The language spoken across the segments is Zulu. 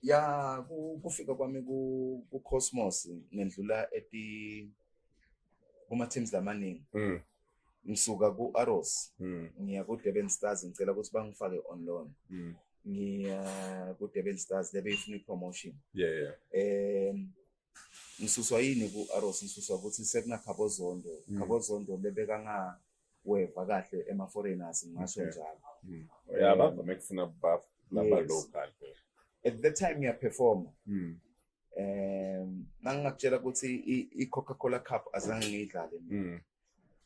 ya kufika kwami ku-cosmos ngedlula eti kuma-teams lamaningi mm. ngisuka ku-aros mm. ngiya ku-durban stars ngicela ukuthi bangifake on loan mm. ngiya ku-durban stars lebe ifuna i-promotion yeah, yeah. um ngisuswa yini ku-aros ngisuswa ukuthi sekunakhabozondo mm. khabozondo lebekangaweva kahle ema-foreigners ngingasho njalo mm. ya bavame kufuna laba-local at that time ngiyaperforma mm. um nangingakutshela ukuthi i-coca cola cup azange ngiyidlale mina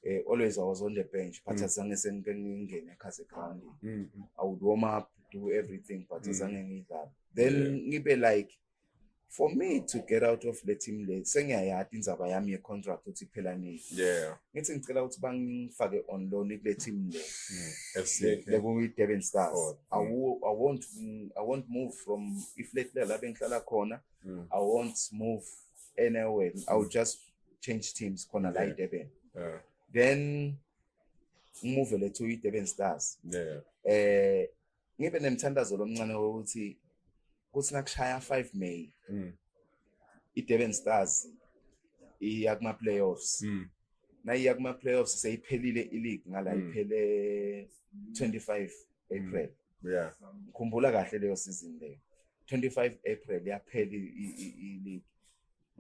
eh, always I was on the bench but mm. azange sengike ngingene ekhaze ground mm. I would warm up do everything but mm. azange ngidlala then ngibe like for me to get out of le team le sengiyayati indzaba yami ye-contract ukuthi iphela nini yeah ngithi ngicela ukuthi bangifake on loan kule team le mm, lekuyi-durban stars oh, I, mm. will, I, won't, i won't move from iflate la bengihlala khona mm. i won't move anywhere i will just change teams khona la idurban yeah. then ngimuvele to idurban stars yeah. eh ngibe nemthandazo lomncane wokuthi kuthi nakushaya 5 May mm. iDurban Stars iya kuma playoffs mm. nayiya kuma playoffs seyiphelile ileague ngala mm. iphele 25 April mm. yeah ngikhumbula kahle leyo season leyo 25 April yaphela ileague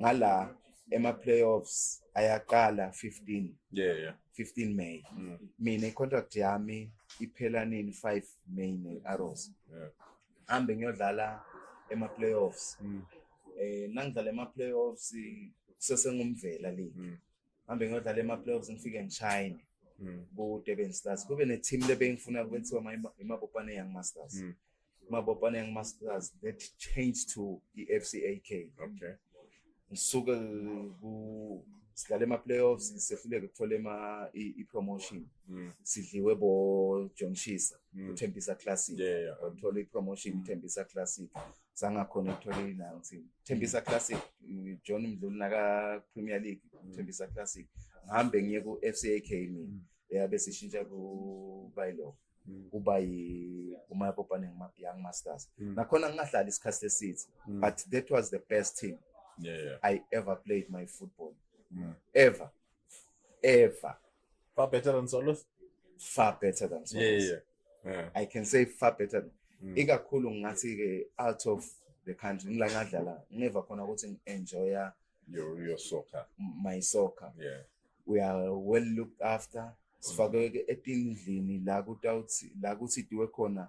ngala ema-playoffs ayaqala 15 yeah, yeah. 15 May mm. mina i-contract yami iphela nini 5 May ne-arrows yeah. hambe ngiyodlala ema-playoffs mm. eh nangidlala ema-playoffs kusesengumvela league mm. ngihambe ngiyodlala ema-playoffs ngifike ngishayine mm. ku-durban stars kube ne-team lebengifuna kwenziwa imabopane young masters mm. imabopane young masters that changed to i-f c a k okay ngisuke sidlala ema-playoffs sehluleke kuthole i-promotion mm. sidliwe bojohn shisa mm. uthembisa classic yeah, yeah. Um, uthole i-promotion mm. uthembisa classic sangakhona ekutholeni nayo ngithini Thembisa Classic John Mdluli naka Premier League mm. Thembisa Classic ngihambe ngiye ku FCAK mina mm. yabe sishintsha ku Baylo mm. kuba yi uma popane Young Masters nakhona ngingahlala isikhathi esithe but that was the best team yeah, yeah. I ever played my football ever ever Far better than solos? Far better than solos. Yeah, yeah, yeah. I can say far better than. Mm. Ikakhulu ngathi ke out of the country ngila ngadlala ngeva khona ukuthi ngi-enjoya your, your soccer. my soccer. Yeah. We are well looked after. Mm. Sifakwe etindlini la kutawuthi la kuthi diwe khona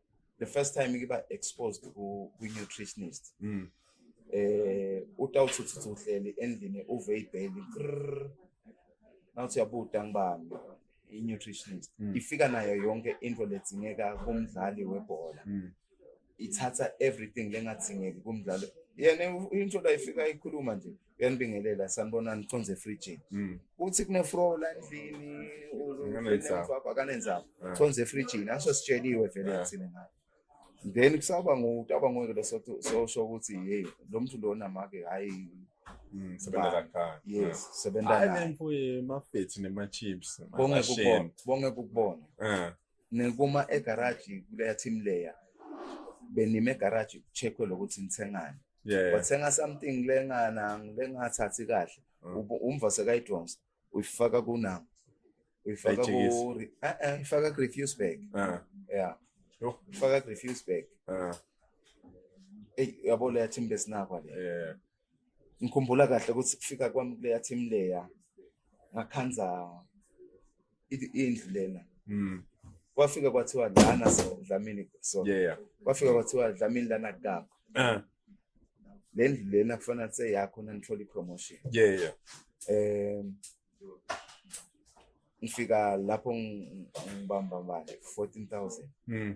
the first time ngiba exposed ku nutritionist mm. eh utawuthuthuthu uhleli endlini uve ibheli nawuthi yabuda ngibani i nutritionist mm. ifika nayo yonke into ledzingeka kumdlali webhola mm. ithatha everything lengadingeki kumdlalo yena into la ifika ikhuluma nje uyanibingelela sanibona nikhonze efrijini mm. uthi kunefro la endlini akanenzaba ah. khonze efrijini aso sitsheliwe vele ah. thina ngayo then kusaba ngutaba ngoke lo sosho ukuthi hey lo muntu lona make hayi mm, ah. sebenza naye mfowethu nema-chips bonge kukubona ngikuma egaraji kuleya team layer benime egaraji kucheckwe lokuthi nithengani yeah. wathenga something lengana lengathathi kahle mm. umva sekayidonsa uyifaka kunama uyifaka ku eh eh ifaka ku refuse bag uh. yeah oh. ifaka ku refuse bag uh. Ah. ey yabo leya team besinakwa le yeah ngikhumbula kahle ukuthi kufika kwami kuleya team leya ngakhanza indlu lena mm. kwafika kwathiwa lana so Dlamini so yeah kwafika kwathiwa Dlamini lana kugaba uh. le ndlu lena kufanele kuse yakho nanithola i-promotion yeah yeah um ngifika lapho ngibamba manje 14000 mm.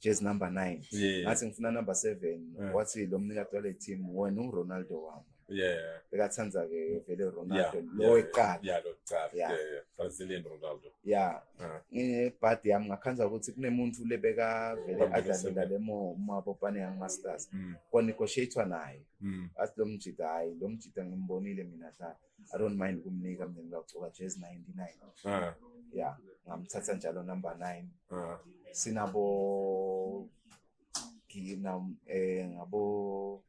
jezi number nine yeah. ngathi ngifuna number seven yeah. wathi lo mnikati wale team wena unguronaldo wami yeah. bekathanda ke vele ronaldo lo weqala brazilian ronaldo ya nginebhadi yami ngakhanza ukuthi kunemuntu le bekavele adlalela le mabopane young masters mm. kwanegotiatwa naye mm. athi lo mjida hhayi lo mjida ngimbonile mina dlala i don't mind ukumnika mina ngilagcoka jezi 99 ya ngamthatha njalo number 9 sinabo ngina eh ngabo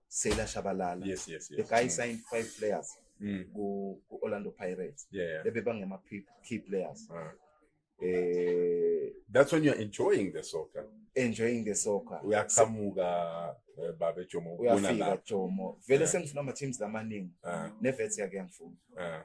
Sela Shabalala yes yes yes the guy mm. signed five players mm. ku Orlando Pirates yeah, yeah. bebangema key players uh. eh that's when you're enjoying the soccer enjoying the soccer uyaqhamuka eh, babe Jomo ubona uyafika la Jomo vele Yeah. sengifuna ama teams lamaningi Ah, nevets yake ngifuna ah,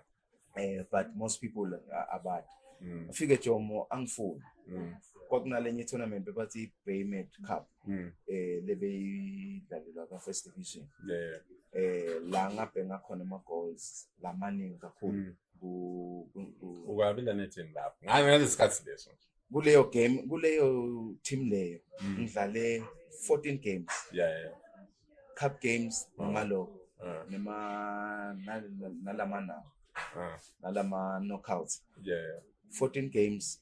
eh but most people a- abad mm, ufike Jomo angifuni mm, kwakunalenye tournament bebathi Baymet Cup mm. eh lebeyidlalelwa ka first division yeah eh la ngabhenga khona ama goals lamaningi kakhulu mm. ku ukabila nethini lapho ngabe ngale sikhathi leso kuleyo game kuleyo team leyo mm. ngidlale 14 games yeah yeah cup games ah. noma lo ah. noma nalama na ah. nalama knockouts yeah 14 games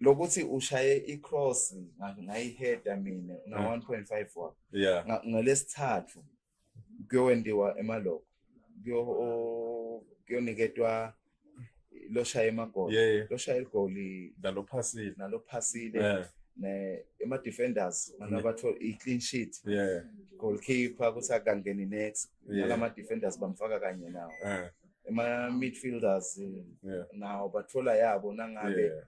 lokuthi ushaye icross ngayiheda mina na 1.5 wakho yeah ngalesithathu kuyowendiwa emaloko kuyo kuyoniketwa loshaya emagoli yeah, yeah. loshaya igoli nalophasile nalophasile yeah. ne ema defenders manabatho yeah. i clean sheet yeah goalkeeper kuthi akangeni next yeah. nalama defenders bamfaka kanye nawo yeah. ema midfielders eh, yeah. nawo bathola yabo nangabe yeah.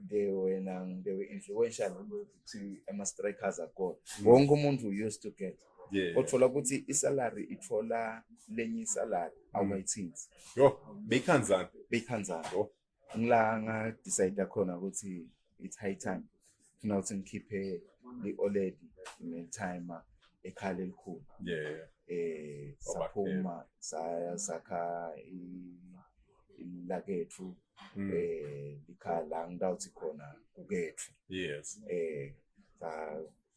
they were nang they were influential ukuthi ama strikers are good mm. wonke umuntu used to get yeah. othola ukuthi isalary ithola lenye isalary mm. awumayithinzi yo beyikhanzana beyikhanzana ngila nga decide khona ukuthi it's high time funa ukuthi ngikhiphe i-oled nethima ekhala elikhulu yeah eh saphuma saya sakha lakethu hmm. eh likhala ngidawuthi khona kukethu yes eh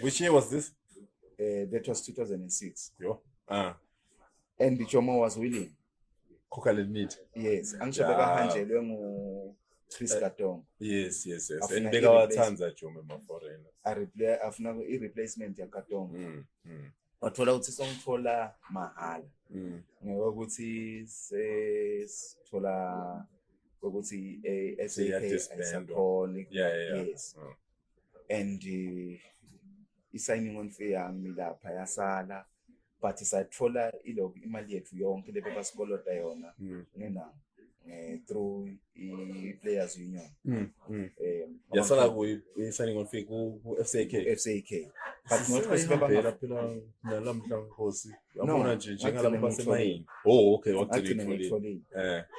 Which year was this? Uh, that was 2006. Yo. Uh. And Jomo was willing. Coca Limit. Yes. Angisho yeah. bekahanjelwe ngu Chris uh, Katong. Yes, yes, yes. And bekawathanda Jomo ma foreign. I replay afuna i replacement ya Katong. Mm. Mm. Wathola ukuthi songithola mahala. Mm. Ngoba ukuthi sesithola ukuthi eh, SAK ayisakhona. Yeah, yeah. Yes. Mm. and eh, i-signing on fee yami lapha yasala but sathola ilok imali yethu yonke le bebasikoloda yona hmm. ngena eh, through i-players union hmm, hmm. Eh, yasala ku-signing on fee ku-fck fck but not kwesibebanga phela nalamhla nkosi yabona nje njengalabo basemayini oh okay wagcina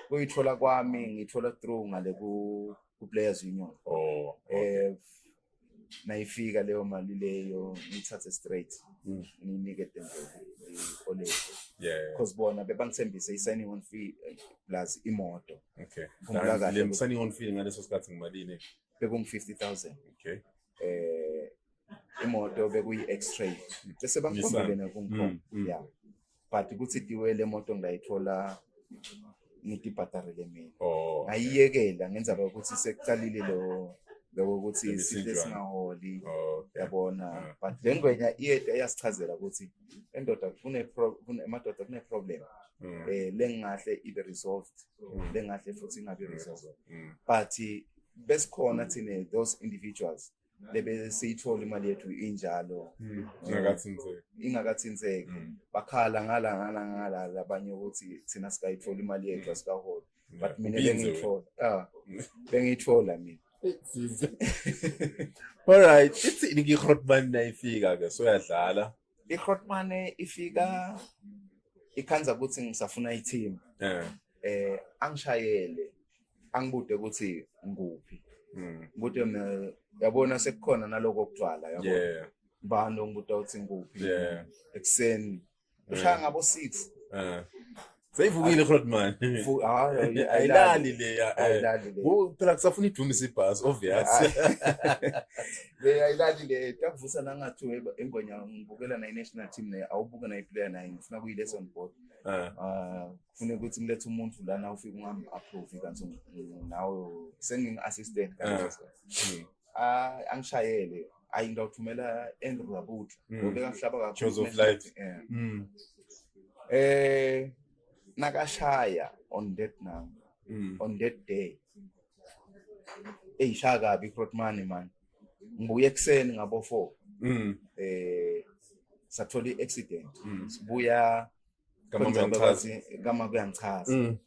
uyithola eh. kwami ngithola through ngale ku ku-players union oh, okay. um nayifika leyo mali leyo ngiyithathe straight mm. nginike dembeoleo because bona bebangithembise i-signing on fee eh, plus imoto okay. signing on fee ngaleso sikhathi ngimalini bekungu-fifty thousand okay. um imoto bekuyi-x-tray bese bangikhombele nakungikhona mm, mm. ya but kuthi tiwe le moto ngayithola ngidibhadarele mina oh, ngayiyekela ngenzaba ukuthi sekuqalile lo loko ukuthi isithe singaholi oh, yabona but le ngwenya iyede eyasichazela ukuthi endoda emadoda kune-problem um mm. eh, lengahle ibe resolved mm. lengahle futhi ingabi resolved mm. but besikhona thina those individuals mm. bebe siyithola imali yethu injalo hmm. ingakathinzeki ingakathinzeki hmm. bakhala ngala ngala ngala labanye ukuthi thina sikayithola imali yethu hmm. asikaholi but mina bengiyithola ah bengiyithola mina all right ithi ngikhotman nayifika ke soyadlala iHrotmane ifika ikhanza ukuthi ngisafuna i-team eh eh angishayele angibude ukuthi ngikuphi hmm. ngikude mina yabona sekukhona naloko okugcwala yabo yeah bani ongibuda ukuthi ngikuphi yeah ekuseni ushaya eh. ngabo 6 eh seyivukile khona manje Fu- hayi, ayi- ayilali leya eh. ayilali le Wo, phela kusafuna idumisa ibhasi obvious le ayilali le takuvusa nangathi weba engonya ngibukela nayi national team naye awubuke nayi player naye ngifuna kuyi lesson board Eh, ah kufuneka ukuthi ngilethe umuntu lana ufike ungam approve kanti ng- nawe sengingi assistant kanti Eh. ah angishayele ayi ngawuthumela Andrew Rabutla mm. ngoba ekahlaba kakhulu Choose of life eh. mm. eh nakashaya on that number mm. on that day eyi shaya kabi crot money man ngibuye ekuseni ngabo 4 mm. eh sathola i-accident mm. sibuya Kamama Kunjalo, uyangichaza. bathi, kama kuyangichaza Mm.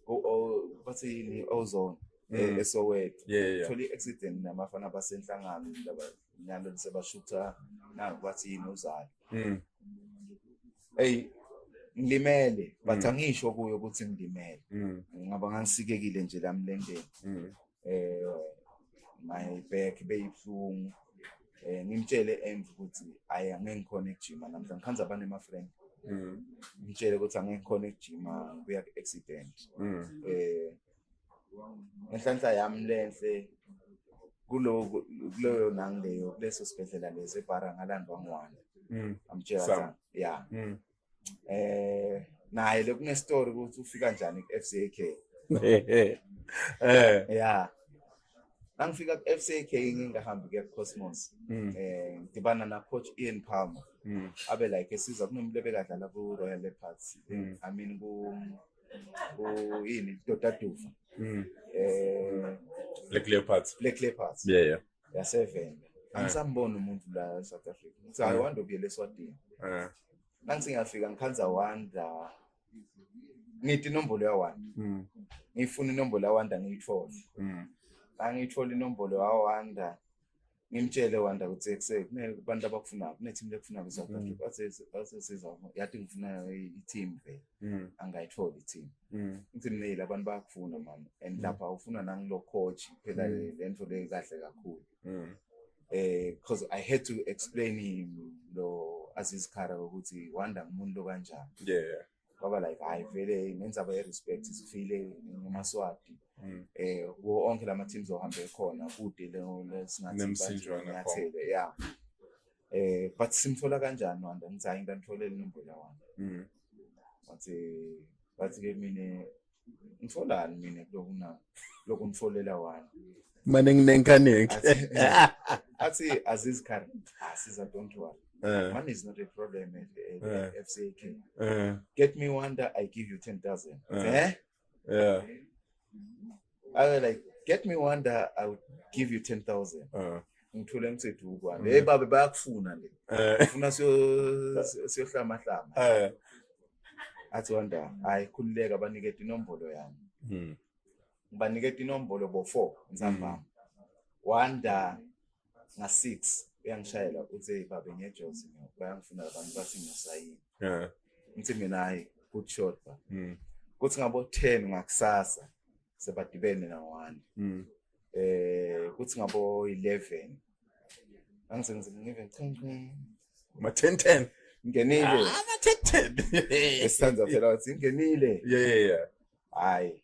O- o- bathi yini ozone Mm. eh, esoweto Yeah, yeah, yeah. thole i-accident namafana basenhlangano laba nalo lisebashutha naku bathi yini uzalo Mm. eyi ngilimele but Mm. angisho kuyo ukuthi ngilimele Mm. ngaba ngangisikekile nje lamlendeni Mm. eh my back beyibuhlungu eh ngimtshele env ukuthi ayi angeke ngikhona ekujima namhlanje ngikhanza abanye ama friend mm. ngitshele ukuthi angeke ngikhona ekujima ngibuya ku accident mm. eh ngenhlanhla yami lenhle kulo kuleyo nangileyo kuleso sibhedlela lesi ebhara ngalandwa ngwane mm. amtshela ya eh naye lokune story ukuthi ufika njani ku FCK eh yeah Nangifika ku FCK ngingahamba ke Cosmos mm. eh ngidibana na coach Ian Palmer mm. abe like esiza kunomuntu obekadlala ku Royal Leopards mm. I mean ku ku yini Dodaduva eh Black Leopards Black Leopards yeah yeah yasevenda eh. angisambona umuntu la eSouth Africa ngithi hayi eh. wanda ubuyele eSwatini eh. nangithi ngiyafika ngikhanza wanda ngithi inombolo yawanda hmm. ngifuna inombolo yawanda ngiyithole hmm. angiyithole inombolo yawanda ngimtshele wanda ukuthi ekuse kunabantu abakufunayo kunethimu lekufunayo eSouth hmm. Africa asesiza yathi ngifuna i-team vele mm. angayitholi thina mm. ngithi mina abantu bayakufuna mama and mm. lapha ufuna nangilo coach phela mm. le nto le kahle kakhulu mm. eh because i had to explain him lo Aziz Khara ukuthi wanda umuntu lo kanjani yeah baba like hayi vele nenzaba ye respect sifile ngemaswati mm. eh wo onke lama teams ohambe khona kude le singathi nemsinjwana yeah eh but simthola kanjani wanda ngithi hayi ngithola inombolo yawana mhm wathi wathi ke mina ngitholani mina kuloko na lokho ngitholela wani mane nginenkaneke athi aziz khan asiza don't worry Uh, Money is not a problem at, at uh, FCAK. Uh, Get me one that I give you 10,000. Uh, eh? Yeah. I was like, get me one that I would give you 10,000. Uh. ngithule ngithethe ukwana mm. hey babe bayakufuna le eh. funa siyohlama hlama eh. athi wanda hayi khululeka banikete inombolo yami mm. ngibanikete inombolo bo-four ntsambama mm. wanda nga-six uyangishayela uthe babe ngiyejozi bayangifuna abantu bathi ngiyosayini ngithi mina hhayi good shot ba hmm. kuthi ngabo-ten ngakusasa sebadibene na-one um kuthi ngabo-eleven angisengize ngive ma-ten ten ngenile ah, ama-ten ten esithanda phela wathi ngenile yeah yeah yeah hhayi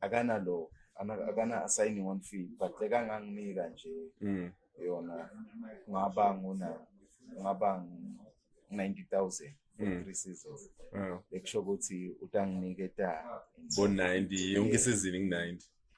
akanalo akana assigning on fee but lekanganginika nje mm. yona ngaba nguna ngaba 90000 mm. three seasons ekusho ukuthi utanginike ta bo 90 yonke isizini ngi 90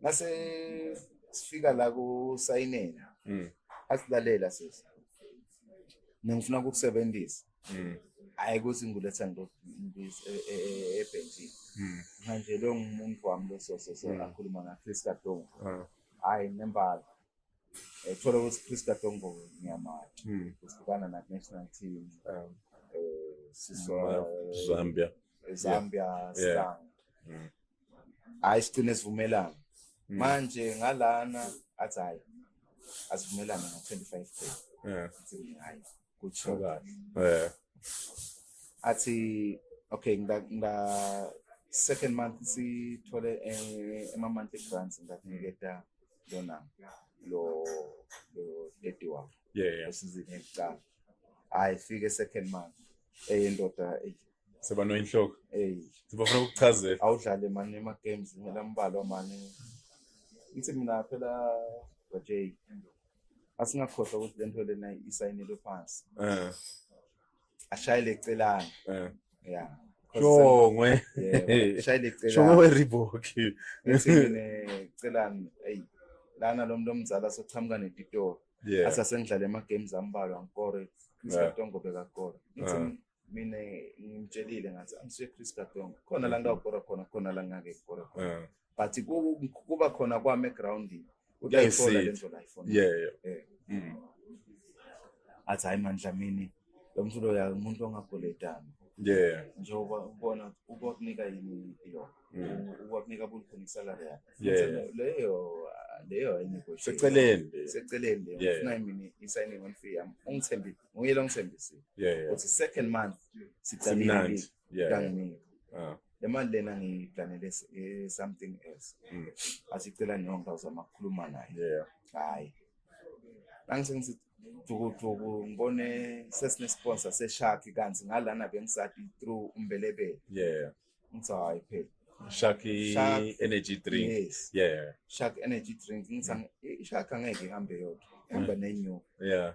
nase sifika la kusayinela mm. asilalela sisi nengifuna ukukusebenzisa mm. hayi ukuthi ngiletha nto e, e, e, ebhentshini mm. manje lo ngumuntu wami lososo so akhuluma ngakhristu kadongo ah. hayi nembala eh, thola ukuthi Chris Katongo ngiyamazi hmm. uhlukana na national team um eh, sisola eh, Zambia Zambia Star hmm. hayi sigcine sivumelana hmm. manje ngalana athi hayi asivumelana na 25 k yeah hayi kutsho kahle yeah athi okay ngida ngida second month sithole eh, ema monthly grants ngakuniketa lona lo lo daddy wakho yeah yeah esizini yokuqala hayi fike second month eyendoda seba noyinhloko hey sibafuna ukuchazela awudlale mani ema games ngela mbalwa mani ngithi mina phela bj asingakhohlwa ukuthi lento lena isayinelwe phansi eh ashayele ecelana eh. yeah shongwe ashayele ecelana shongwe weriboki ngithini ecelana hey lana lo muntu omzala soqhamuka netitoro yeah. asa sengidlala ema-games ambalwa ngikore chris yeah. katongo bekakora ngithi yeah. mina ngimtshelile ngathi angisuye chris katongo khona la ngawukora khona khona la ngake kukora khona yeah. but kuba khona kwami egroundini utayithola le nto la ifona yeah yeah eh. mm. athi hayi mani dlamini lo mntu lo ya umuntu ongagoletana yeah njengoba ubona ukukunika yini iyo mm. ukukunika bulkhona isalary yakho leyo leyo ayinegotiate seceleni seceleni leyo ufuna imini i-signing on fee yami ungithembile nguye lo ngithembisile yeah yeah uthi second month siqalile Yeah, yeah. Kanginike. Ah. Le mali lena ngiyiplanele s- eh, something else. Mm. Asicela nonke uzama ukukhuluma naye. Yeah. Hayi. Angise ngisi dukuduku ngibone sesine sponsor seshark kanti ngalana bengisati through umbelebele. Yeah. Ngithi hayi phela. Shaki Shark. energy drink. Yes. Yeah. Shark energy drink. Ngithi ang- i- shark angeke ihambe yodwa. Ihamba nenyoka. Yeah.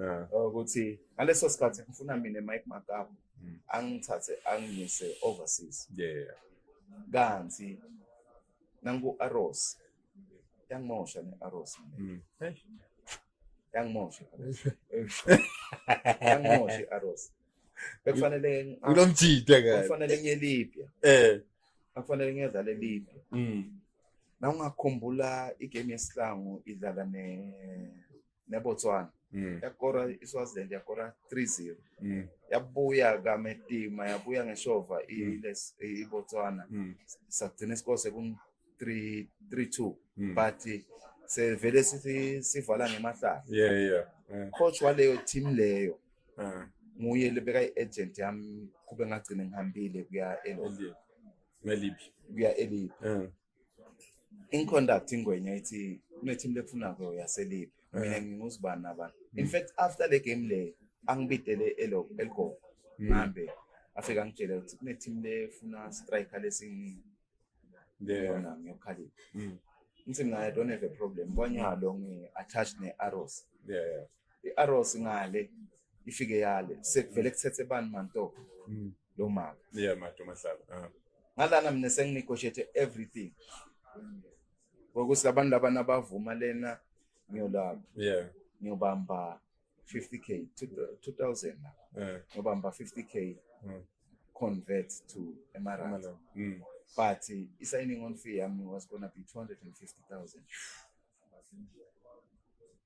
yeah. ukuthi ngaleso sikhathi ngifuna mina Mike Makamu mm. angithathe angiyise overseas yeah kanti nangu Aros yangimosha ne Aros mm. hey yangimosha yangimosha Aros bekufanele ngilomjide ke kufanele ngiye Libya eh akufanele ngiyedlale Libya mm na ungakhumbula igame yesihlangu idlala ne neBotswana mm. yakora iSwaziland yakora 3-0 mm. yabuya kametima yabuya ngeshova mm. iBotswana mm. sagcina isikole seku 3 3-2 mm. but sevele sithi sivala ngemahlala yeah yeah yeah. coach waleyo team leyo uh. nguye lebeka i-agent yami kube ngagcine ngihambile kuya elibhi kuya elibhi uh. inconduct ingwenya ithi kunethimba lekufunako yaseliphi mina eh. nginguzibani nabani in mm. fact after le game le angibidele eloko eligogo mm. ngihambe afika ngitshele ukuthi kunethimba lefuna striker lesini lona ngiyokhalipha mm. ngithi mina i don't have a problem kwanyalo ngi-attached ne-arrows i-arrows ngale ifike yale sekuvele kuthethe bani manto mm. lo mama yeah mato mahlaba ah. ngalana mina senginegotiate everything ngokuthi labantu laba nabavuma lena ngiyolaba yeah ngiyobamba 50k 2000 ngiyobamba 50k mm. convert to emarand mm. but uh, i-signing on fee yami was gonna be 250000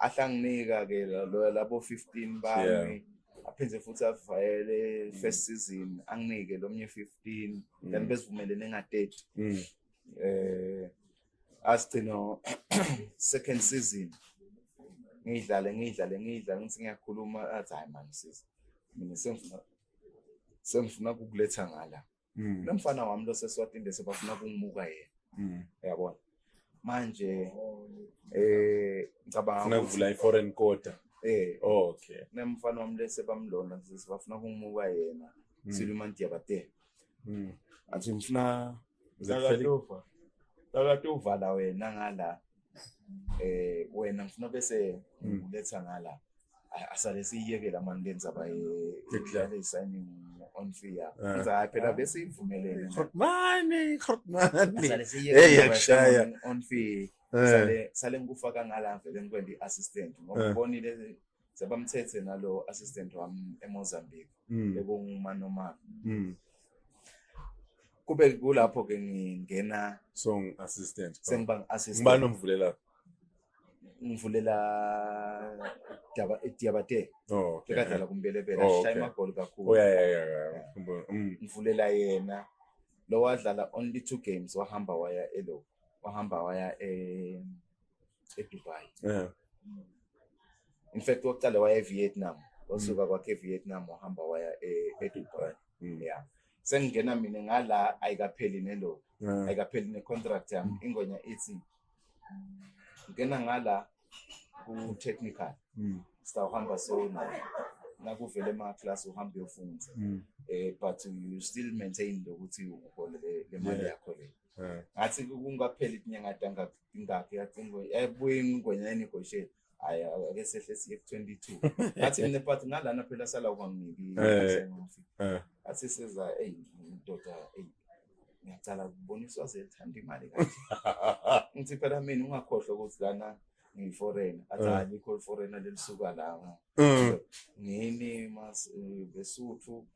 ahlanginika ke labo 15 bami yeah. aphinde futhi avayele mm. first season anginike lomnye 15 mm. then besivumelene nga 30 mm. eh asigcino second season ngidlale ngidlale ngidlale ngithi ngiyakhuluma athi hayi man sisi mina sengifuna sengifuna kukuletha ngala mm. nomfana wami loseswatini bese bafuna kungibuka yena mm. yabona manje eh ngicabanga funa kuvula i-foreign quarter eh oh, okay nemfana wami lese bamlona sibafuna kungibuka yena mm. siluma ndiyabate mm. athi ngifuna zakatuva zakatuva la wena ngala eh wena ngifuna bese hmm. ngiletha ngala asale siyiyekela mani le ndzaba yedlala i-signing on fee yakho eh. ngiza hayi phela bese ivumelele mani mani asale siyiyekela on fee eh. sale sale ngikufaka ngala vele ngikwenda i-assistant ngoba eh. ubonile sebamthethe nalo assistant wami eMozambique mm. ekungumanomana mm. kube kulapho ke ngingena song assistant sengiba assistant ngibani omvulela ngivulela daba diabate oh okay. ekadlala kumbelebela oh, shaya amagoli kakhulu oh yeah yeah yeah, yeah. Mm. ngivulela yena lowadlala only two games wahamba waya elo wahamba waya eh eDubai yeah. in fact waqala waya eVietnam wasuka mm. kwakhe eVietnam wahamba waya e-, eDubai mm. yeah sengingena mina ngala ayikapheli nelo yeah. ayikapheli necontract yami mm. ingonya ithi ngena ngala ku-technical mm. sitawuhamba sona nakuvele ama-class uhambe uyofunza mm. eh but you still maintain lokuthi uholele le mali yakho leyo Eh. ngathi kungapheli inyanga dangakingakhe yacingo yabuye ingwenya enegotiate hayi ake sehle siye ku-twenty two ngathi mina but nalana phela sala ukwamniki eh. eh. ngathi seza eyi ndoda eyi ngiyacala kuboniswa zethanda imali kanje ngithi phela mina ungakhohlwa ukuthi lana ngiyiforeign athi hayi likho liforeign lelisuka la mm. ngini mas besuthu um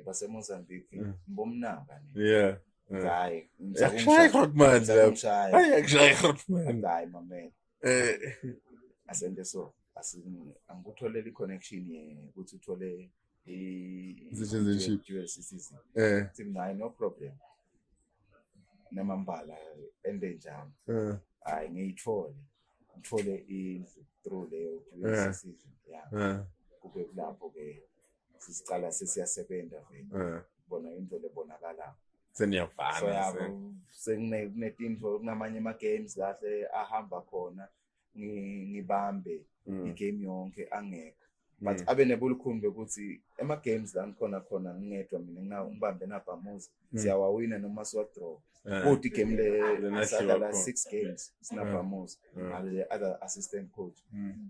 basemozambique mm. ngibomnanga yeah Hayi. Yakushaya igrot man lapha. Hayi yakushaya igrot man. Hayi mamela. Eh asente so angikutholele i-connection ukuthi uthole i-citizenship eh sinayo no problem namambala ende njani eh. hayi ngiyithole ngithole indlu through leyo eh. citizenship yeah eh. kube kulapho ke sicala sesiyasebenza vele eh. bona indlela ebonakala seniyavana sekunetinto kunamanye ama-games kahle ahamba khona ngibambe mm. i-game yonke angekho mm. but abe nebulukhumbi ukuthi ema-games la ngikhona khona ngingedwa mina ngibambe nabhamuza mm. siyawawina noma siwadraw eh. kodwa igame lesadlala six games sinabhamuza ngale-other assistant coach um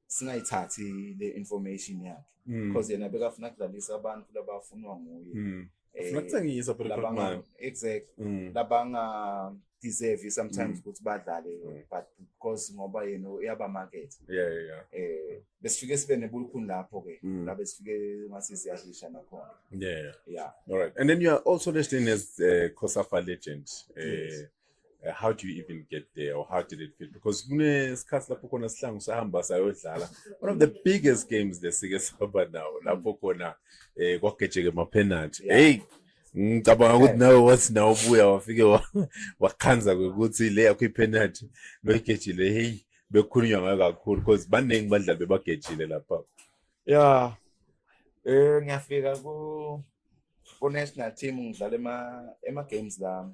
singayithathi le information yakhe mm. because yena bekafuna kudlalisa abantu labafunwa nguye mm. eh, funa kuthengisa but labanga exactly mm. labanga deserve sometimes ukuthi badlale but because ngoba yena uyaba market yeah yeah eh besifike sibe nebulukhuni lapho ke la besifike ngase siyadlisha nakhona yeah yeah all right and then you are also listed as uh, Kosafa legend eh uh, how do you even get there or how did it feel because kunesikhathi lapho khona sihlangu sahamba sayodlala one of the biggest games lesike sihamba nawo lapho khona eh kwagejeke mapenalty hey ngicabanga ukuthi nawe wathi nawe ubuya wafike wakhanza kwekuthi le yakho ipenalty loyigejile hey bekhulunywa ngayo kakhulu because baningi badlali bebagejile lapha ya eh ngiyafika ku ku national team ngidlala ema ema games lami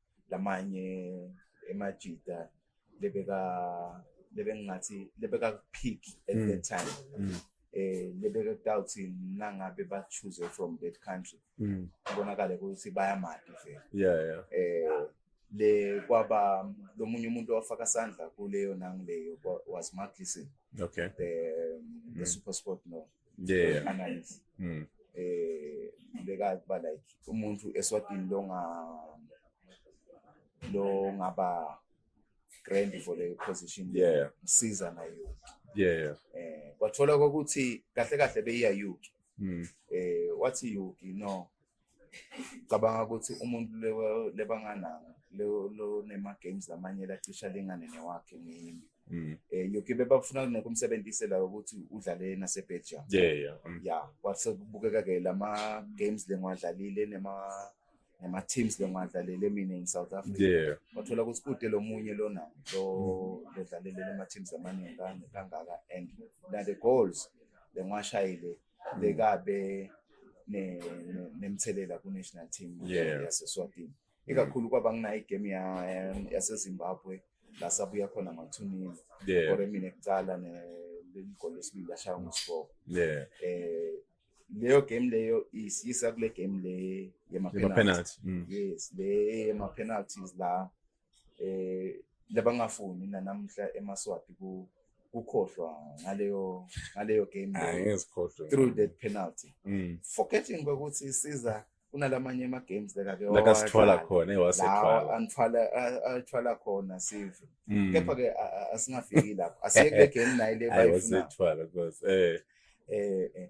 lamanye emajita lebeka lebengingathi lebekakuphik at mm. that time mm. eh lebekakutawuthi nangabe ba-choose from that country mm. kubonakale ukuthi bayamadi vele yeah, yeah. eh le kwaba lomunye umuntu owafaka sandla kuleyo nangileyo was Mark Listen okay the, um, the mm. super sport no yeah analyze mm. eh leka ba like umuntu eswatini lo nga lo ngaba grand for the position yeah msiza na you yeah eh kwathola ukuthi kahle kahle beyiya you mm. eh wathi you no cabanga ukuthi umuntu lebangananga lonema-games amanye lacisha lingane newakhe ngimi um mm. eh, yoke bebafuna kuneke umsebenzise la ukuthi udlale nasebelgium ya mm. kwasekubukeka-ke lama-games lengiwadlalile nema-teams lengiwadlalele mina in south africa wathola ukuthi kude lo munye lona lodlalele lama-teams amaningi kangaka and na-the goals lengiwashayile mm. bekabe nemthelela ku-national team yaseswatini ikakhulu mm. kwaba nginayo igame yasezimbabwe la sabuya khona mathunini kore mina kucala leli goli lesibili lashaya ngosiboko um eh, leyo game leyo isiyisa kule game le yema-penalty mm. yes le yema-penalties la eh labangafuni nanamhla emaswati ku kukhohlwa ngaleyo ngaleyo game ngizikhohlwe through that penalty mm. forgetting ukuthi isiza kunalamanye ama games lekake lakasithwala khona ewasethwala anithwala athwala khona sive mm. kepha ke asingafiki lapho asiye kule game nayo le bayifuna wasethwala cause eh eh, eh.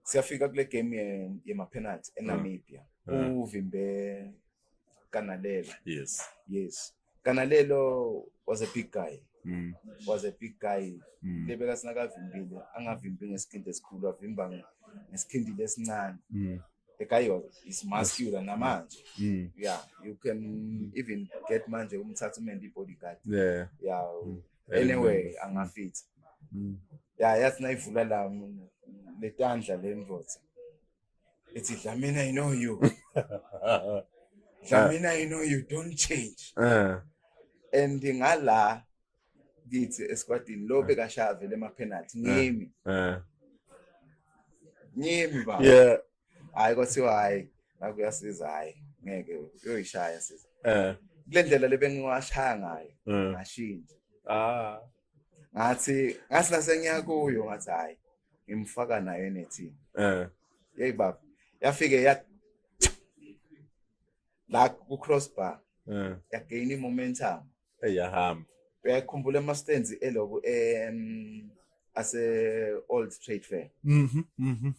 siyafika kule game ye ma penalty eNamibia mm. uvimbe Kanalelo. Yes. Yes. Kanalelo was a big guy. Mm. Was a big guy. Mm. Lebeka sinakavimbile, angavimbi ngesikhindi esikhulu, avimba ngesikhindi lesincane. Mm. The guy is muscular yes. namanje. Mm. Yeah, you can even get manje umthatha umendi bodyguard. Yeah. Yeah. Mm. Anyway, angafit. Mm. Yeah, yathi nayivula la letandla lemvotsa. It's Dlamini, I know you. Dlamini, I know you don't change. Eh. And ngala kithi esikwatini lo bekashaya vele ama penalty ngimi. Eh. Ngimi baba. Yeah. Hayi kwathiwa hayi nakuyasiza hayi ngeke uyoyishaya siza. Eh. Kule ndlela lebengiwashaya ngayo. Ngashintsha. Ah. ngathi ngathi nasengiya kuyo ngathi hayi ngimfaka nayo enethini eh yeyi baba yafike ya la ku crossbar eh yagain i momentum eyahamba uyakhumbula ama stands eloku em ase old trade fair mhm mhm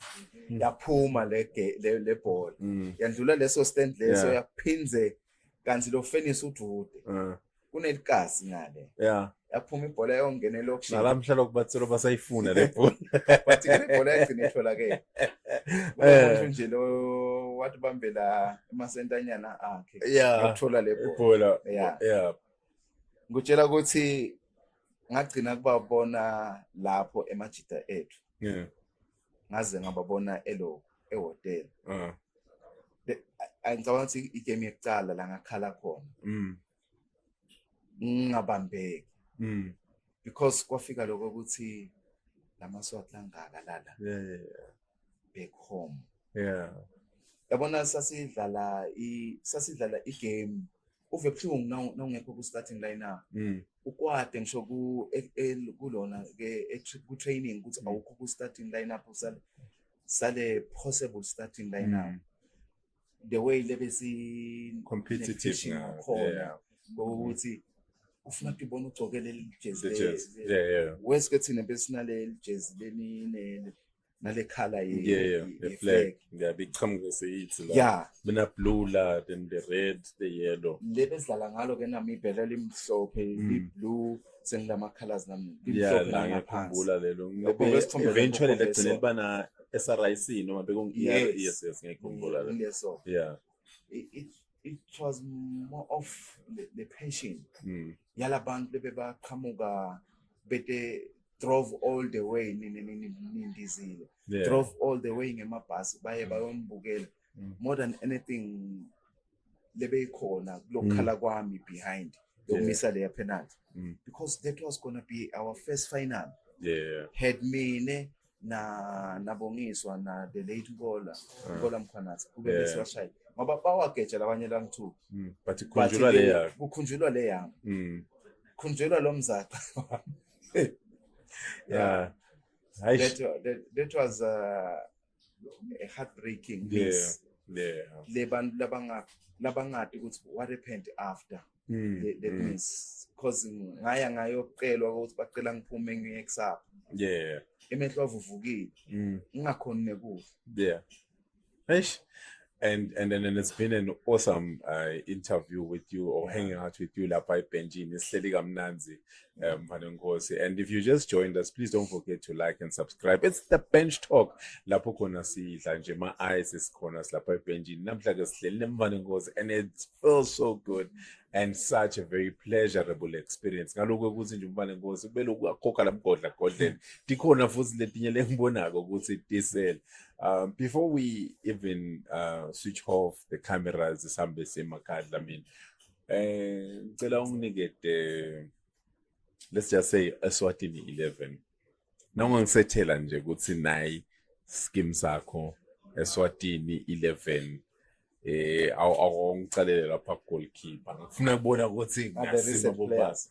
yaphuma le le ball mm. yandlula leso stand leso yaphindze kanti lo fenisi udude eh. kunelikazi ngale yeah yaphuma ibhola yongena elokishini nalamhla lokubathula basayifuna le bhola bathi ke ibhola yagcina itholakele eh nje lo wathi bambela emasentanyana akhe yokuthola le bhola yeah yeah ngutshela ukuthi ngagcina kubabona lapho emajita ethu yeah ngaze ngababona elo ehotela uh. ngicabanga ukuthi igame yokucala la ngakhala khona mm. ngingabambeki mm. because kwafika lokho ukuthi lamaswati langaka lala yeah, yeah, yeah. back home yeah yabona sasidlala i sasidlala igame uve buhlungu nawungekho ku-starting line up mm. ukwade ngisho e, e, kulona e, ku-training ukuthi mm. awukho ku-starting line up usale sale possible starting line up mm. the way lebe si-competitive ngakhona ngokuthi ufuna ukuthi ubone ugcoke leli jezi wesike thina besinaleli jezi leninele nale color ye, yeah, yeah, ye, the flag. flag. Yeah, big chamke seyithi la. Yeah. Mina blue la, then the red, the yellow. Le bezidlala ngalo ke nami ibhela limhlophe, mm. li blue sengilama colors nami. Yeah, la ngiyakhumbula lelo. Eventually legcine libana SRIC noma bekungi yes yes ngiyakhumbula lelo. Yeah. it was more of the, the passion mm. yalabantu bebebaqhamuka bete drove all the way nindizile yeah. drove all the way ngemabhasi baye mm. bayombukela mm. more than anything lebeyikhona kulokukhala mm. kwami behind yokumisa yeah. leya penalty mm. because that was gonna be our first final yeah. had mina na nabongiswa na the late Nkola ah. Nkola Mkhwanazi kube yeah. besiwashaya ngoba bawageja labanye la ngithu mm. but kukhunjulwa le yakho kukhunjulwa le yakho mm. khunjulwa lo mzaca yeah. yeah. That, that, that was uh, a heartbreaking yeah. miss yeah. le bantu labangati ukuthi what happened after mm, that, that mm. means cause ngaya ngayocelwa ukuthi bacela ngiphume ngiye kusapha yeah emehlo avuvukile mm. ngingakhoni nekudla yeah eish and and then and it's been an awesome uh, interview with you or hanging out with you lapha ebhenjini sihleli kamnanzi um, Mfanenkosi. And if you just joined us, please don't forget to like and subscribe. It's the bench talk. Lapho khona sidla nje ma eyes isikhona silapha ebhenjini. Namhla ke sihleli nemfanenkosi and it feels so good and such a very pleasurable experience. Ngalokho ukuthi nje umfanenkosi kubele ukukhokha lamgodla godleni. Dikhona futhi letinye lengibonako ukuthi diesel. Um, before we even uh, switch off the cameras, the Sambesi Makadla, I mean, Eh ngicela unginike the let's just say Eswatini 11. Noma ngisethela nje ukuthi nayi scheme sakho Eswatini 11 eh awungicalele lapha goalkeeper ngifuna kubona ukuthi ngasima bobasa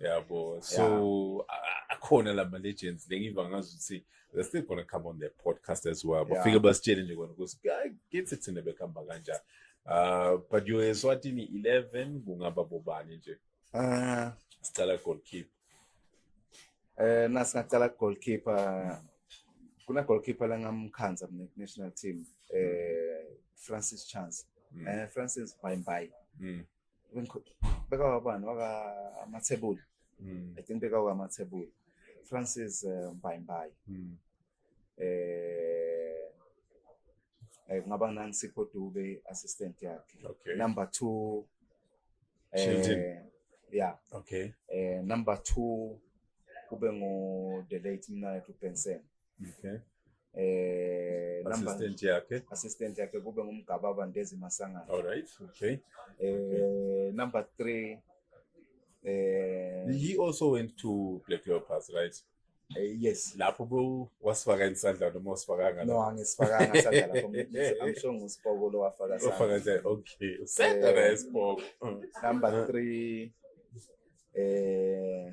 yabo so a- akhona la ma-legends lengiva ngazi ukuthi they're still gonna come on their podcast as well Yeah. bafike basitshele nje kona ukuthi "Ay, kithi thina bekuhamba kanjani uh, but you eswatini 11 kungaba bobani nje Eh, sicala goalkeeper eh na singaqala goalkeeper kuna goalkeeper langamkhanza mina national team eh Francis Chance Mm. eh Francis Bye Bye mm. bekawa bani waka amathebuli mm. i think bekawa amathebuli francis uh, eh, mbayimbayi mm. eh, eh kungaba nansipho dube assistant yakhe okay. number two eh, yeah okay eh, number two kube ngu the late mnayethu benson okay. eh assistant yakhe assistant yakhe kube ngumgababa Ndezi Masangana all right okay eh number 3 eh he also went to Black Leopards right Eh, yes lapho bo wasifaka isandla noma wasifakanga no angisifakanga isandla lapho I'm sure ngusipoko lo wafaka isandla wafaka nje okay usenda na isipoko number 3 eh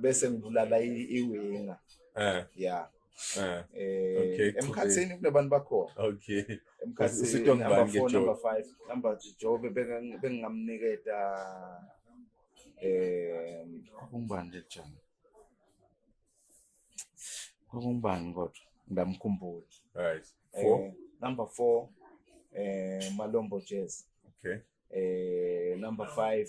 bese ngibulala iwinga eh yeah eh, eh okay emkhathini kunabantu bakhona okay emkhathini usito ngibani ke number 5 number Jobe bengingamniketa eh kumbani nje jana kumbani kodwa ndamkhumbula right 4 eh, number 4 eh Malombo Jazz okay eh number 5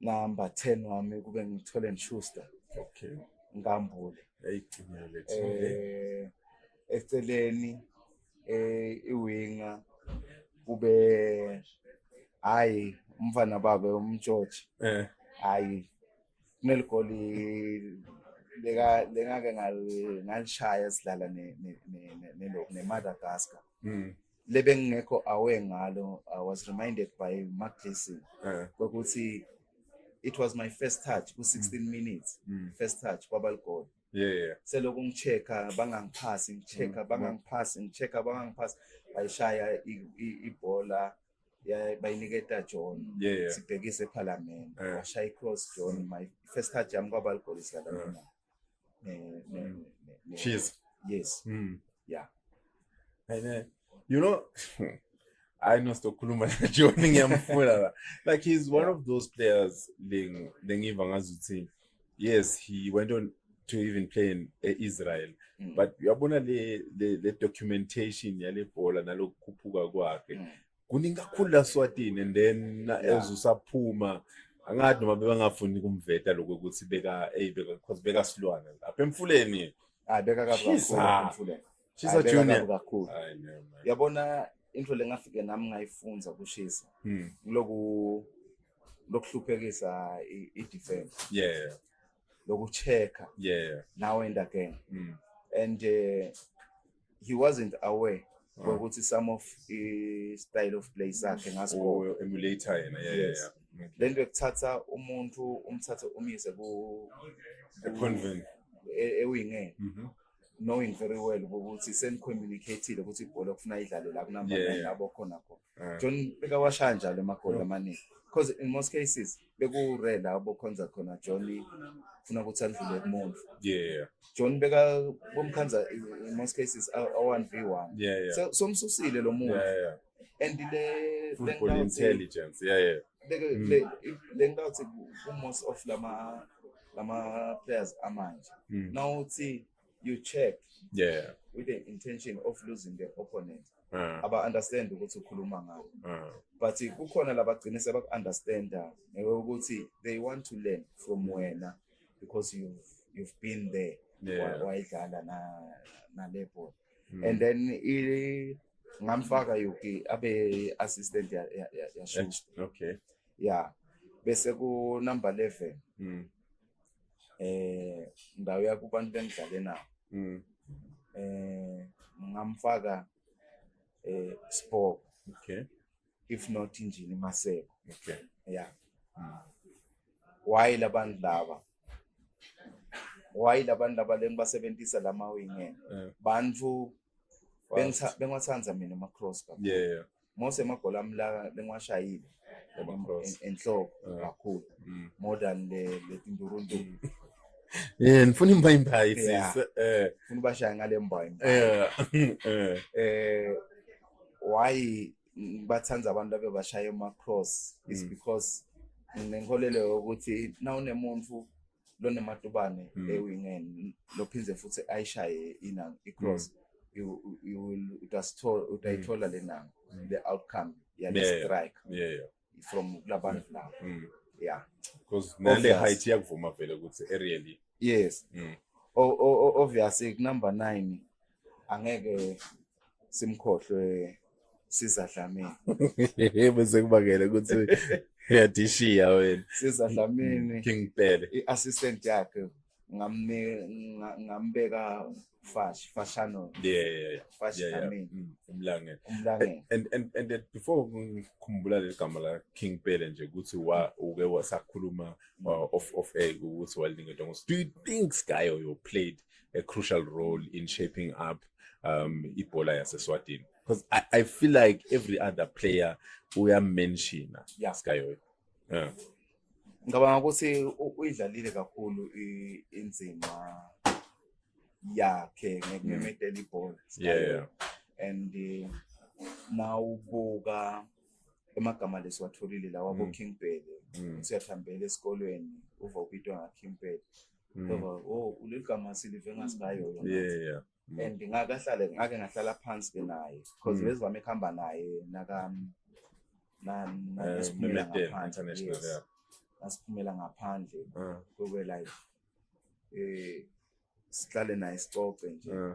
number 10 wami kube ngithole ngishuster okay ngambule ayigcina lethu eh eceleni eh iwinga kube hayi umfana babe umtshotshe eh hayi kuneligoli leka lengake ngalishaya sidlala ne ne ne ne Madagascar mm. lebengingekho aware ngalo i was reminded by mark jason eh. kokuthi it was my first touch ku-16 mm. minutes mm. first touch kwabaligoli yeah, yeah. selokhu ngichecka bangangiphasi ngichecka mm. bangangiphasi ngichecka bangangiphasi bayishaya ibhola bayiniketa john yeah, yeah. sibhekise ephalamende yeah. washaya icross john my first touch yami kwabaligoli sidlala yeah. cheese yes mm. yeah and uh, you know I know Stokuluma Johnny ngiyamfuna like he's one of those players ling lengiva ngazuthi yes he went on to even play in uh, Israel mm. but uyabona le, le le documentation yale bhola nalokukhuphuka kwakhe mm. kuningi kakhulu la swatini and then na- Yeah. as usaphuma angathi noma bebangafuni kumveta lokho ukuthi beka eyi beka because beka silwane apha emfuleni hayi beka kabi kakhulu Shiza. apha emfuleni Shiza Hayi, beka Junior. kabi kakhulu Hayi, no, man. yabona into lengafike nami ngayifunza kushisa Hmm. kuloku lokuhluphekisa i- i-defense yeah lokucheck yeah now and again Hmm. and eh, he wasn't aware ah. kokuthi some of i-style of play sakhe ngasikho emulator yena yeah, yes. yeah, yeah. Okay. lento ekuthatha umuntu umthathe umyise ku convent ewingeni e, mhm. knowing very well ukuthi senicommunicateile ukuthi ibhola kufuna idlalo la kunamanye abokhona khona Eh. John bekawashaya njalo amagoli amaningi because in most cases bekure la bokhonza khona John funa ukuthi andlule kumuntu yeah John beka bomkhanza in most cases aw1v1 yeah yeah so somsusile lo muntu yeah yeah and le football intelligence yeah yeah mm. le le ngawuthi ku most of lama lama players amanje mm. nawuthi you check yeah with the intention of losing the opponent uh. aba understand ukuthi ukhuluma ngayo uh. but kukhona labagcine sebaku understanda ngewe ukuthi they want to learn from wena because you've you've been there yeah. wayidlala na nale ball mm. and then i ngamfaka yuki abe assistant ya ya, ya, ya okay yeah bese ku number 11 mm. eh ndawo yakubantu bengidlale nawo mm. eh ngamfaka eh sport okay if not injini maseko okay yeah mm. why labantu laba why labantu laba lengibasebenzisa lama wingeni eh. bantu Bengitha- bengiwathanda mina ama-cross kakhulu yeah mose amagoli ami la bengiwashayile Ama-cross. en- enhloko Yeah. kakhulu Mm. more than le- letindurundu yeah ngifuna imba imbayi Yeah. sisi eh funa ubashaye ngale mbayo eh eh eh why bathanda abantu abebashaya ama-cross is Mm. because nginenkolelo yokuthi nawunemuntu lonematubane mm. ewingeni lophinde futhi ayishaye inanga icross mm. utayithola mm. le nanga mm. the outcome yale yeah, strike yeah, yeah. from kulabantu mm. labo mm. yeah because nale height yakuvuma vele ukuthi aerially yes mm. o, o, o, obviously number 9 angeke simkhohlwe sizadlamini bese kubangele ukuthi uyadishiya wena sizadlamini mm, king pele i-assistant yakhe ngambeka fash fashano yeah yeah yeah fash yeah, yeah. Mm, umlangeni umlangeni and and and before ngikhumbula le gama la king pele nje ukuthi wa uke wasakhuluma mm. uh, of of a ukuthi walinga dongo do you think sky or you played a crucial role in shaping up um ibhola yaseswatini because I, I feel like every other player uyamenshina yeah. sikayoyo yeah. ngicabanga ukuthi uyidlalile kakhulu inzima yakhe ngemedela ibhola yeah and eh, nawubuka emagama lesiwatholile lawa mm. bo King Bhele mm. usiyathambela esikolweni uva ubitwa nga King Bhele Mm. Ngoba oh uligama silive ngasikayo yona. Yeah yeah. Mm. And ngakahlale ngake ngahlala phansi ke naye because Mm. bezivame kuhamba naye naka na na Eh, nasiphumela Memedeni ngaphandle, International yes. yeah. nasiphumela ngaphandle Uh, kube like eh sihlale naye sicoce nje uh,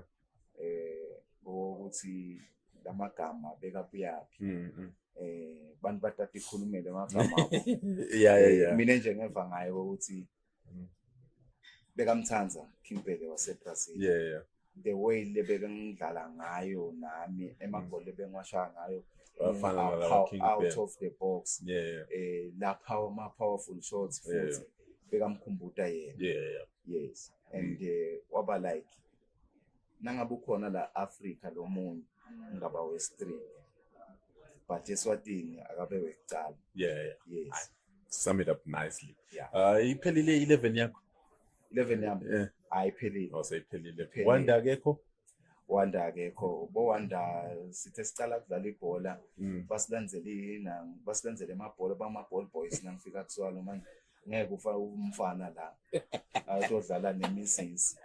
eh ukuthi lamagama bekapuyaphi mm, mm. eh bantu batata ikhulumele amagama abo yeah yeah yeah. mina nje ngeva ngayo ukuthi Mm. bekamthanda Kimbheke waseBrazil yeah yeah the way lebeke ngidlala ngayo nami emagoli mm. ebengiwashaya ngayo Wafana nala pow- King out Ben. of the box yeah yeah eh la power ma powerful shots Yeah, futhi bekamkhumbuta yena yeah yeah yes and eh, waba like nangabe ukhona la Africa lo munye ngaba westreet but eswatini akabe wekucala yeah, yeah. yes sum it up nicely yeah. uh, iphelile 11 yakho 11 yami yeah. ayiphelile oh seyiphelile wanda akekho wanda akekho bo wanda sithe sicala kudlala ibhola mm. basilandzele yina basilandzele amabhola bama ball boys nangifika kuswalo manje ngeke ufake umfana la azodlala nemisisi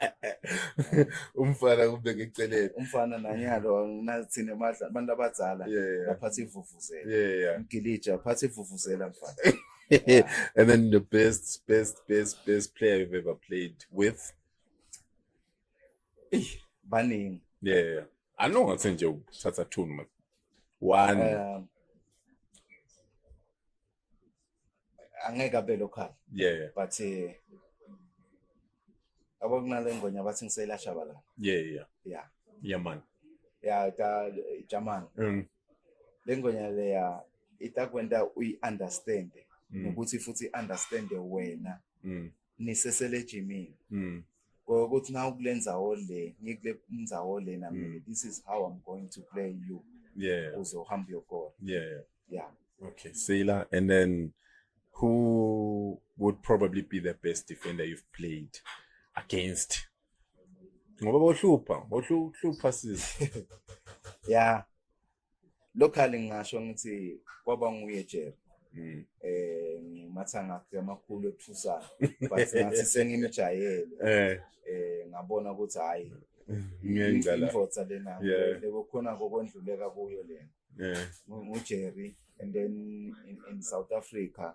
umfana kubeke eceleni umfana nanyalo nathina emadla abantu abadzala baphatha ivuvuzela mgilija aphatha ivuvuzela mfana and then the best best best best player you've ever played with baningi yeah i know ngathi nje uthatha two noma one um, angeke abe local yeah, yeah. but eh, yabo kunale ngwenya bathi ngiselashabalala yeah yeah yeah yeah man ya ta jamani mm. le ngwenya leya itakwenta uyi-understande mm. nokuthi futhi i-understande wena mm. nisesele ejimini mm. ukuthi na ukule nzawo le ngikule nzawo le na mm. this is how i'm going to play you yeah uzohamba uyokora yeah yeah okay sila and then who would probably be the best defender you've played against ngoba bohlupha bohlupha sizi yeah locally ngingasho ngithi kwaba nguye Jerry Mm. eh ngimatha ngakhe amakhulu ethusa but ngathi sengimjayele eh eh ngabona ukuthi hayi ngiyengcala imvotsa lena lekukhona kokwendluleka kuyo lena yeah ngujerry and then in, in south africa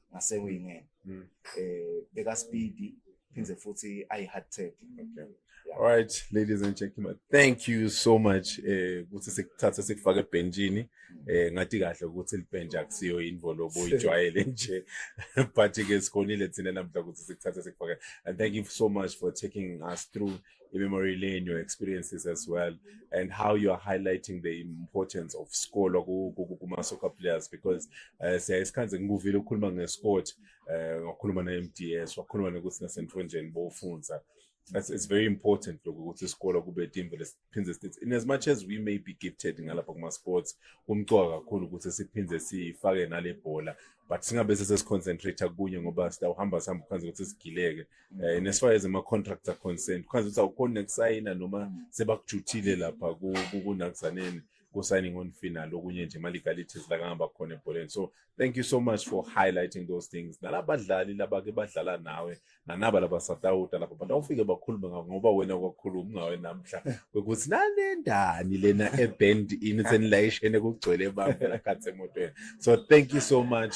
ngasekuyinene mm. eh beka speed phinde futhi ayi hard tech okay yeah. all right ladies and gentlemen thank you so much eh ukuthi sikuthathe sikufake ebhenjini mm. eh ngathi kahle ukuthi libhenja akusiyo involve oyijwayele nje but ke sikhonile thina namhla ukuthi sikuthathe sikufake and thank you so much for taking us through i-memory lane, your experiences as well, and how you are highlighting the importance of score kuma-soccer players because uh, eh, siyaye sikhanze ngikuvile ukukhuluma nge-sport um eh, wakhuluma ne-m d s wakhuluma nokuthi nasentonjeni bofunza That's, it's very important lokhu ukuthi isikole kube team vele siphinde sithi in as much as we may be gifted ngalapha kuma-sports kumcoka kakhulu ukuthi siphinde sifake nale bhola but singabe sesesiconcentrate kunye ngoba sitawuhamba sihamba kwanze ukuthi sigileke Eh, and as far as ama-contracts are concerned khazi ukuthi awukhoni nekusayina noma mm. sebakujuthile lapha kunakuzaneni ku-signing on fee nalo okunye nje ama-legalities la kangaba khona ebholeni so thank you so much for highlighting those things nalabadlali laba-ke badlala nawe nanaba laba satawuta lapha but awufike bakhulume ngako ngoba wena kwakhuluma ungawe namhla kwekuthi nanendani lena eband ini senilayishene kugcwele bamfela khathi emotweni so thank you so much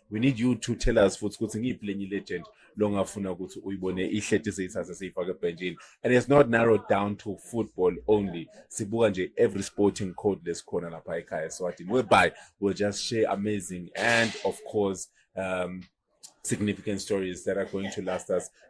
we need you to tell us futhi ukuthi ngiyiphi lenye legend longafuna ukuthi uyibone ihleti seyithathe seyifake ebhenjini and it's not narrowed down to football only sibuka nje every sporting code lesikhona lapha ekhaya eswatini whereby we'll just share amazing and of course um, significant stories that are going to last us